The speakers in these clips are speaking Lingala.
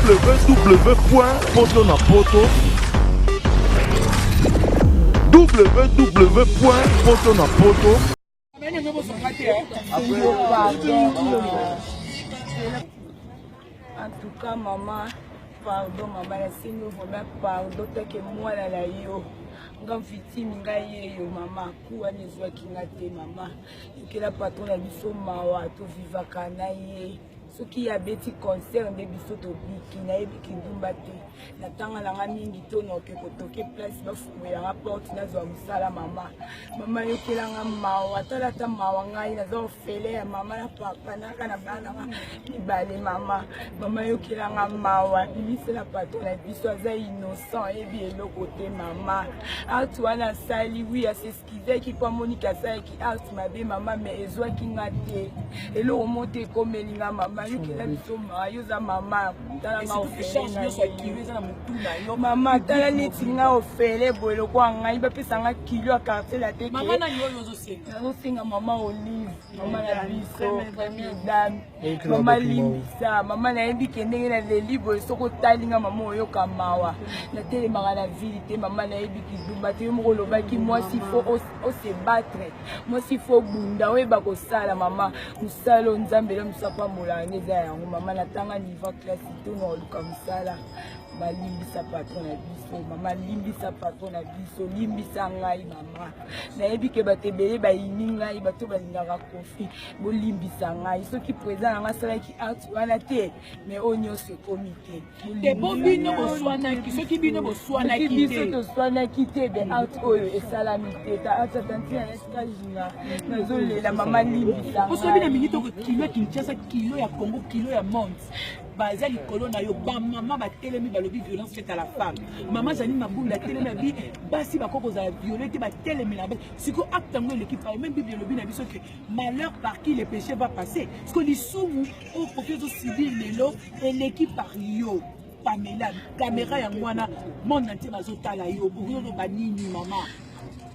www.potonapoto www.potonapoto En tout cas, maman, pardon, maman, la signe vraiment pardon, t'as que moi là, là, yo. nga victime nga yeyo mama kuwa nezwaki nga te mama yokela patron na biso mawa tovivaka na ye soki ye abeti concert nde biso tobiki nayebi kindumba te natanga nanga mingi to noke kotoke place bafumelanga porte nazwa mosala mama mama yokelanga mawa tala ata mawa ngai naza ofele ya mama na papa naka na bananga mibale mama mama yokelanga mawa bimisela pato na biso aza innocent yebi eloko te mama atu wana asali wi asesi kizaki mpo amoniki asalaki art mabe mama me ezwaki nga te eloko mo te ekomeli nga mama yokela biso maa yo oza mama mama tala neti nga ofele boye lokwa ngai bapesa nga kilo ya quartier latekenazosenga mama olive mama na biso dame mama limbisa mama nayebi ke ndenge naleli boye soki otali nga mama oyoka mawa natelemaka na vile te mama nayebi kidumba te yo moko olobaki mwasi fo ose batre mwasi fo bunda oyeba kosala mama mosala oyo nzambe elo mosu apambolaka nde eza yango mama natanga niva classe to na oluka mosala balimbisa patron na biso mama limbisa patron na biso limbisa ngai mama nayebi ke bato ebele bayini ngai bato balingaka kofi merci bolimbisa ngai soki président nanga asalaki acte wana te mais oyo nyonso ekomi te po bino boswanaki soki bino boswanaki te biso toswanaki te be acte oyo esalami te ta acte atanti na estajina nazolela mama limbisa poso bino mingi toko kilo ya kinshasa kilo ya congo kilo ya monde baza likolo na yo bamama batelemi balobi violence faite à la femme mama janine mabunda atelemi abi basi bakoki kozala viole te batelemela basi siko acte yango eleki pao meme bible elobi na biso ke malheur par qui le péché va passer siko lisumu oyo koki ozosubir lelo eleki par yo pamela kamera yango wana monde ntie bazotala yo okoki oloba nini mama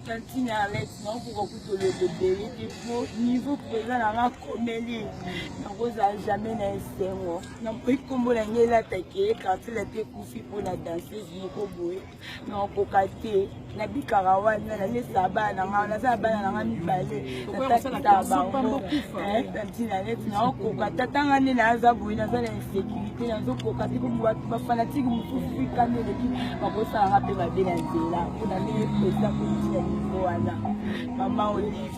tantine alex nakokoka kutoloba ebele te po niveau mpenza na nga komeli nakozala jamais na esengo nakoki nkombo na ngai elatake quartier late ekufi mpo na danseuse moko boye nakokoka te nabikaka wana namesa bana na ngai naza na bana na ngai mibale natakisa bango na ntina neti naokoka tata ngai nde naza boye naza na insécurité nazokoka te po bato bafanatike mosusu ikani eleki bakosala ngai mpe mabe na nzela mpo na ndenge mpenza kotina livo wana mama olive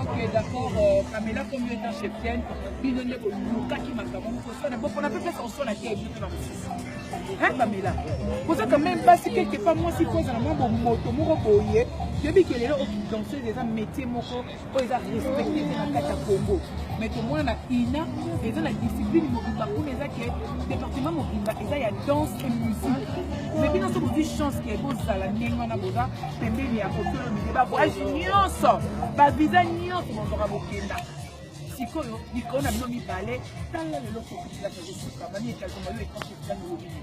ok d'accord euh, pamela comme yo etant cheftienne bino nde bolukaki makambo mokosana bopona mpe pesa kosona te bino na mosusu hein pamela boza quand même basi quelque part mwasi mpo ezala mwa bomoto moko boye toyebi ke lelo okidanseuse eza métier moko oyo eza respecte te na kati ya congo mais tomona na ina eza na discipline mobimba kuna eza ke département mobimba eza ya danse et musique mais bino so bozwi chance ke bozala ndenge wana boza pembeni ya kokolo mide bavoyage nyonso bavisa nyonso bozwaka bokenda sikoyo likolo na bino mibale tala lelo kokitilaka kosuka mami ekalkoma yo ekankokitango obini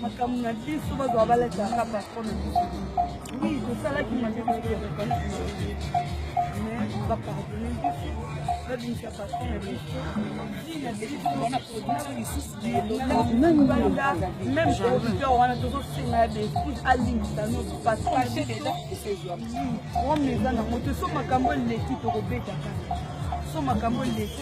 makambo na biso bazwa balataka patron na biso wi tosalaki mabe mais bapardone biso babimisa patron na biso banda meme auditeur wana tozosenga ya befuse alimbisa noso patron eza nango te so makambo eleki tokobeta kaka so makambo eleki